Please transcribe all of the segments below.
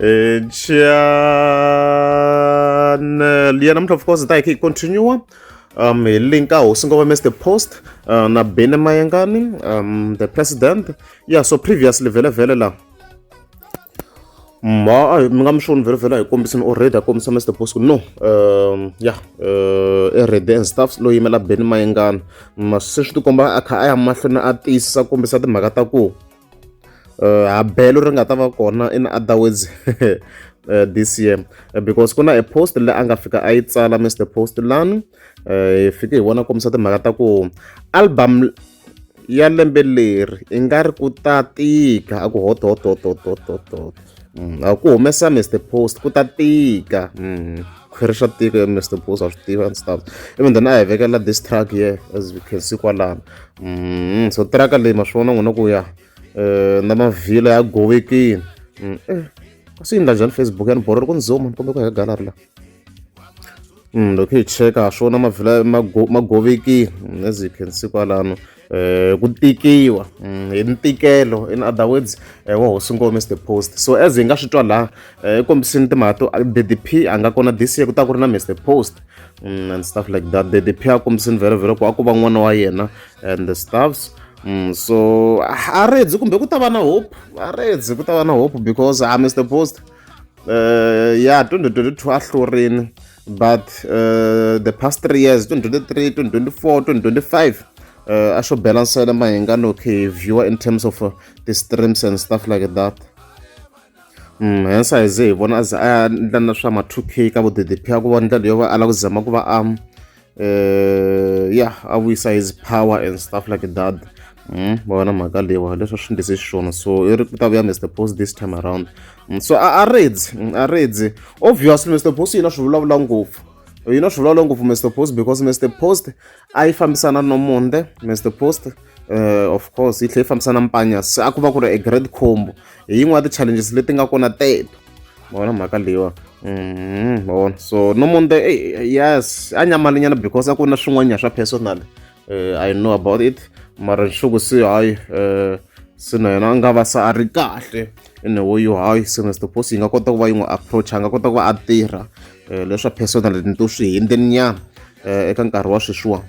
And channel ya namuntlha of course hi ta hi kha hi continue um hi link a hosi ngoma mr post uh, na bene mayengani um the president yeah so previously vele vele la ma mi nga mi xoni vele vele a hi kombisini already a kombisa mr post no um yeah uh, e red and staffs lo yimela bene mayengani ma se swi tikomba a kha a ya mahlweni a tiyisisa kombisa timhaka ta ku uh, habelo ri nga ta va kona in other words uh, this year uh, because ku na e post leyi a nga fika a yi tsala mr post lani uh, hi fike hi vona kombisa timhaka ta ku album ya lembe leri i nga ri ku ta tika a ku hotohotohotohotohoto Mm, a ku humesa Mr Post ku ta tika mm, khwiri xa tiko ya Mr Post a swi tiva ndzi ta even then a hi vekela this truck here as we can see kwalano mm, so truck leyi ma swi vona n'wina ku ya eh, na mavhila ya gowekini mm, eh, kasi yi nga njhani Facebook yani borori ku ni zoom kumbe ku heka gallery la Mm, lokhu hi-check-a ha swona mavhila magovekile mm, as you can see kwalano eh ku tikiwa mm, hi ntikelo in other words eh, wa hosi ngome the post so as hi nga swi twa laha eh, kombisini timhaka to ddp a nga kona this year ku ta ku ri na mr post and stuff like that ddp a kombisini vhelo vhelo ku a ku va n'wana wa yena and the stuffs Mm, so a redzi kumbe ku ta va na hope a redzi ku ta va na hope because a mr post uh, ya 2022 a hlurini but uh, the past three years 2023 2024 2025 uh, a swo bela nsele mahinga no okay viewer in terms of uh, the streams and stuff like that mm, hence a hi ze hi vona a ze a ya ndla na swa ma 2 k ka vodpp a ku va ndlela yo va a lava ku zama ku va a um, uh, yeah a vuyisa his power and stuff like that mm, vona mhaka leyiwa leswi swi ndlise xiswona so i ri ku ta vuya mr post this time around mm, so a reds mm, a reds obviously mr post yina swi vulavula ngopfu yina swi vulavula ngopfu mr post because mr post a yi fambisana no monde mr post uh, of course yi tlhela yi fambisana mpanya se a ku va ku ri a great combo hi yin'wana ya ti-challenges leti nga kona teto ma vona mhaka leyiwa mm-hmm, ma vona so no munde yes a nyamalinyana because a ku na swin'wanyana swa personal eh, i know about it mara nxuku si hayi um se na yena a nga va se a ri kahle ene wo yo hayi se na stopos yi nga kota ku va yi n'wi approach a nga kota ku va a tirha um eh, leswa personal ni to swi hindeninyana um eh, eka nkarhi wa sweswiwani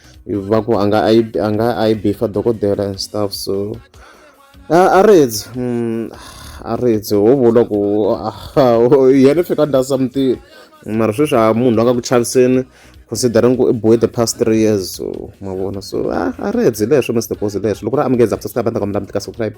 va ku a nga a yi a nga a yi bifa dokodela and stuff so a a ridzi mm, a ridzi ho vula ku yena fika nda something mara sweswi a munhu loyi a nga ku chaviseni considering ku i boy the past three years so mavona so a ridzi leswo mr boss leswo loko ri amukeza after star va ta kombela mi tika subscribe